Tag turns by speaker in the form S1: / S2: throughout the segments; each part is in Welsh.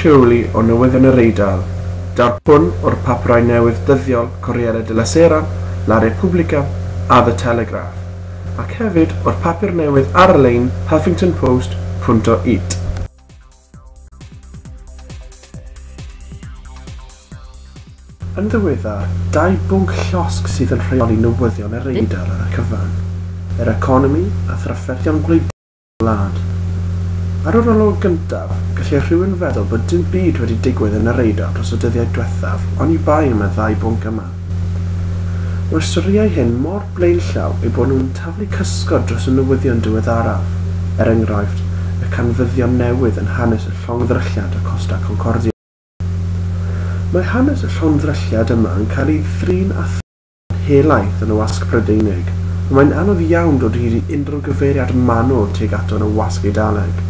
S1: rheoli o newyddion yr Eidal, daw'r pwn o'r papurau newydd dyddiol Corriere della Sera, La Repubblica a The Telegraph, ac hefyd o'r papur newydd ar-lein Huffington Post, Punto it. Yn ddiweddar, dau bwnc llosg sydd yn rheoli newyddion yr Eidal ar y cyfan, yr economi a thrafferthion gwleidyddol. wlad. Ar yr olwg gyntaf, gallai rhywun feddwl bod dim byd wedi digwydd yn yr Eidal dros y dyddiau diwethaf, oni bai am y ddau bwnc yma. Mae'r storïau hyn mor blaenllaw eu bod nhw'n taflu cysgod dros y newyddion diweddaraf, er enghraifft, y canfyddion newydd yn hanes y llongddrylliad y Costa Concordia. Mae hanes y llongddrylliad yma yn cael ei thrin a helaeth yn y wasg Prydeinig, ond mae'n anodd iawn dod hyd i unrhyw gyfeiriad manwl tuag ato yn y wasg Eidaleg.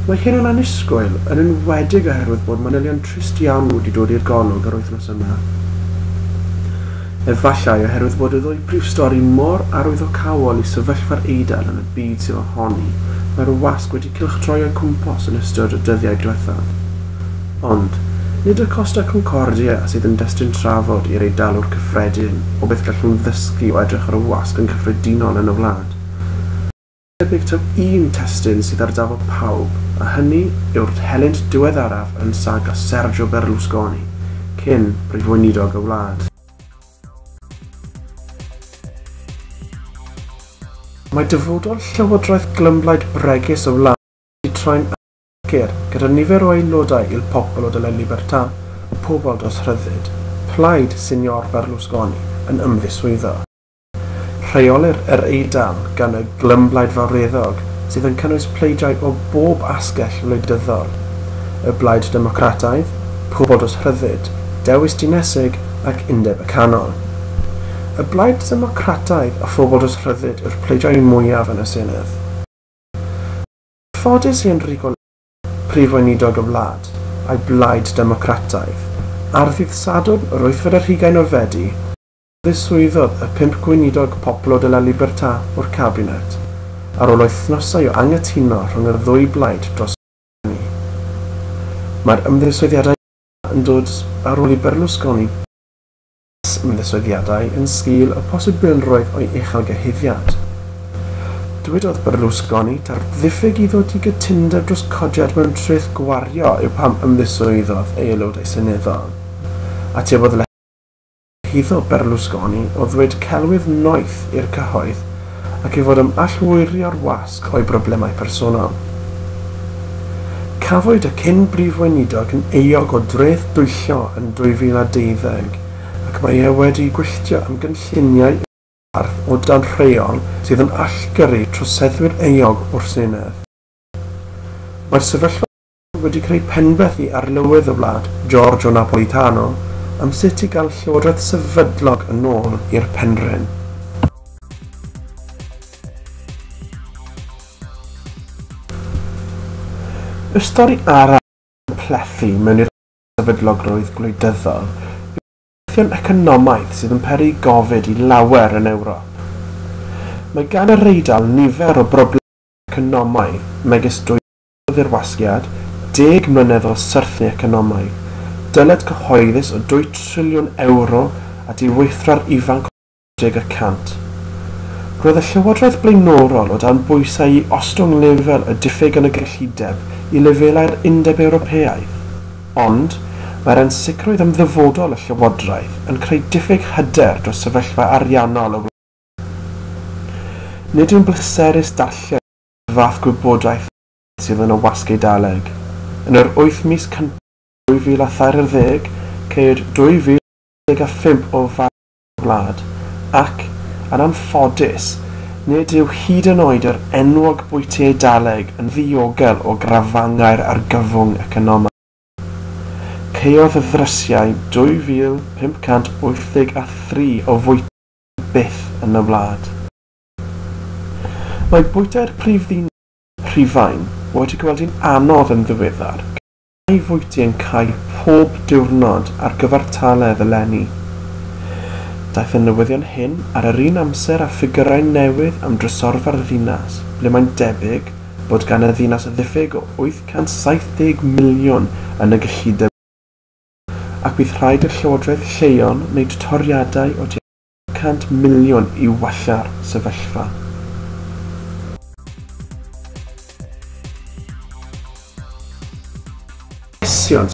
S1: Mae hyn yn annisgwyl, yn enwedig oherwydd bod manylion trist iawn wedi dod i'r golwg yr wythnos yma. Efallai oherwydd bod y ddwy brif stori mor arwyddocaol i sefyllfa'r Eidal yn y byd sydd ohoni mae'r wasg wedi cylchdroi o'i cwmpas yn ystod y dyddiau diwethaf. Ond, nid y Costa Concordia sydd yn destun trafod i'r Eidalwr cyffredin o beth gallwn ddysgu o edrych ar y wasg yn gyffredinol yn y wlad. Mae'n debyg taw un testun sydd ar dafod pawb, a hynny yw'r helynt diweddaraf yn saga Sergio Berlusconi, cyn Prif Weinidog y wlad. Mae dyfodol llywodraeth glymblaid bregus y wlad wedi troi'n annibynnol. sicr, gyda nifer o aelodau Il Popolo della Libertà, Pobol dros Rhyddid, plaid Signor Berlusconi, yn ymddiswyddo. Rheolir yr Eidal gan y Glymblaid Fawreddog sydd yn cynnwys pleidiau o bob asgell wleidyddol, y Blaid Democrataidd, Pobol dros Rhyddid, Dewis Dinesig ac Undeb y Canol. Y Blaid Democrataidd a Phobol dros Rhyddid yw'r pleidiau mwyaf yn y Senedd. Ffodus i Enrico Letta, Prif Weinidog y wlad, a'i blaid Democrataidd, ar ddydd Sadwrn yr wythfed ar hugain o Fedi, ddiswyddodd y pump gweinidog Popolo della Libertà o'r cabinet, ar ôl wythnosau o anghytuno rhwng y ddwy blaid dros Berlusconi. Mae'r ymddiswyddiadau yma yn dod ar ôl i Berlusconi, ymddiswyddiadau yn sgil y posibilrwydd o'i uchelgyhuddiad. Dywedodd Berlusconi taw ddiffyg i ddod i gytundeb dros codiad mewn treth gwario yw pam ymddiswyddodd ei aelodau seneddol. Atebodd Lehido Berlusconi o ddweud celwydd noeth i'r cyhoedd ac i fod yn allwyrio'r wasg o'i broblemau personol. Cafwyd y cyn Brif Weinidog yn euog o dreth dwyllo yn 2020 ac mae e wedi gwylltio am gynlluniau gwerth o dan rheol sydd yn allgyrru troseddwyr euog o'r Senedd. Mae'r sefyllfa wedi creu penbethu ar lywydd y wlad, Giorgio Napolitano, am sut i gael llywodraeth sefydlog yn ôl i'r penrhyn. Y stori arall sy'n plethu mewn i'r sefydlogrwydd gwleidyddol yw'r cyfreithion economaidd sydd yn peri gofid i lawer yn Ewrop. Mae gan yr Eidal nifer o broblemau economaidd megis dwyn o ddirwasgiad, deg mlynedd o syrthlu economaidd, dyled cyhoeddus o dwy triliwn ewro a diweithwra'r ifanc o 60 y cant. Roedd y llywodraeth blaenorol o dan bwysau i ostwng lefel y diffyg yn y gyllideb i lefelau'r Undeb Ewropeaidd. Ond, mae'r ansicrwydd am ddyfodol y llywodraeth yn creu diffyg hyder dros sefyllfa ariannol y wlad. Nid yw'n bleserus darllen y fath gwybodaeth sydd yn y Wasg Eidaleg. Yn yr wyth mis cyntaf 2023, ceir 2,035 o fathau yn y wlad, ac, yn anffodus, nid yw hyd yn oed yr enwog bwyty Eidaleg yn ddiogel o grafangau'r argyfwng economaidd. Caeodd y ddrysiau 2,583 o fwyty byth yn y wlad. Mae bwyta'r prif ddyn Rhufain wedi gweld hi'n anodd yn ddiweddar, gan mai fwyty yn cau pob diwrnod ar gyfartaledd eleni. Daeth y newyddion hyn ar yr un amser â ffigyrau newydd am drysorfa'r ddinas, ble mae'n debyg bod gan y ddinas ddiffyg o 870 miliwn yn y gyllideb leol, ac bydd rhaid i'r llywodraeth lleol wneud toriadau o tua 100 miliwn i wella'r sefyllfa. llesiant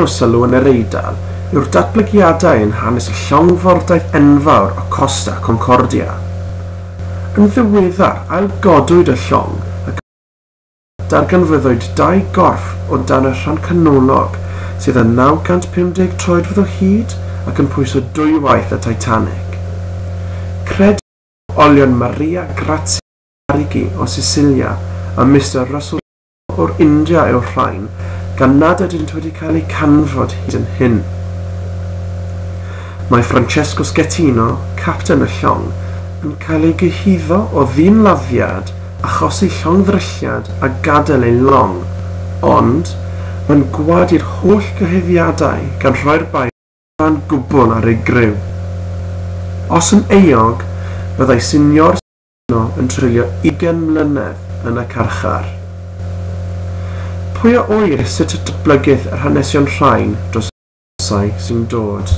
S1: o sylw yn yr Eidal yw'r datblygiadau yn hanes y llongfordaeth enfawr o Costa Concordia. Yn ddiweddar, ailgodwyd y llong, Darganfyddwyd dau gorff o dan y rhan canolog, sydd â 950 troedfedd o hyd ac yn pwyso dwywaith y Titanic. Credid bod olion Maria Grazia Arrighi o Sicilia a Mister Russell Sewell o'r India yw'r rhain, gan nad ydynt wedi cael eu canfod hyd yn hyn. Mae Francesco Schettino, capten y llong, yn cael ei gyhuddo o ddyn-laddiad achosi llongddrylliad a gadael ei long, ond mae'n gwadu'r holl gyhuddiadau gan rhoi'r bai allan gwbl ar ei griw. Os yn euog, byddai Signor Santino yn treulio ugain mlynedd yn y carchar. Pwy a ŵyr sut y datblygith yr hanesion rhain dros y Llysau sy'n dod.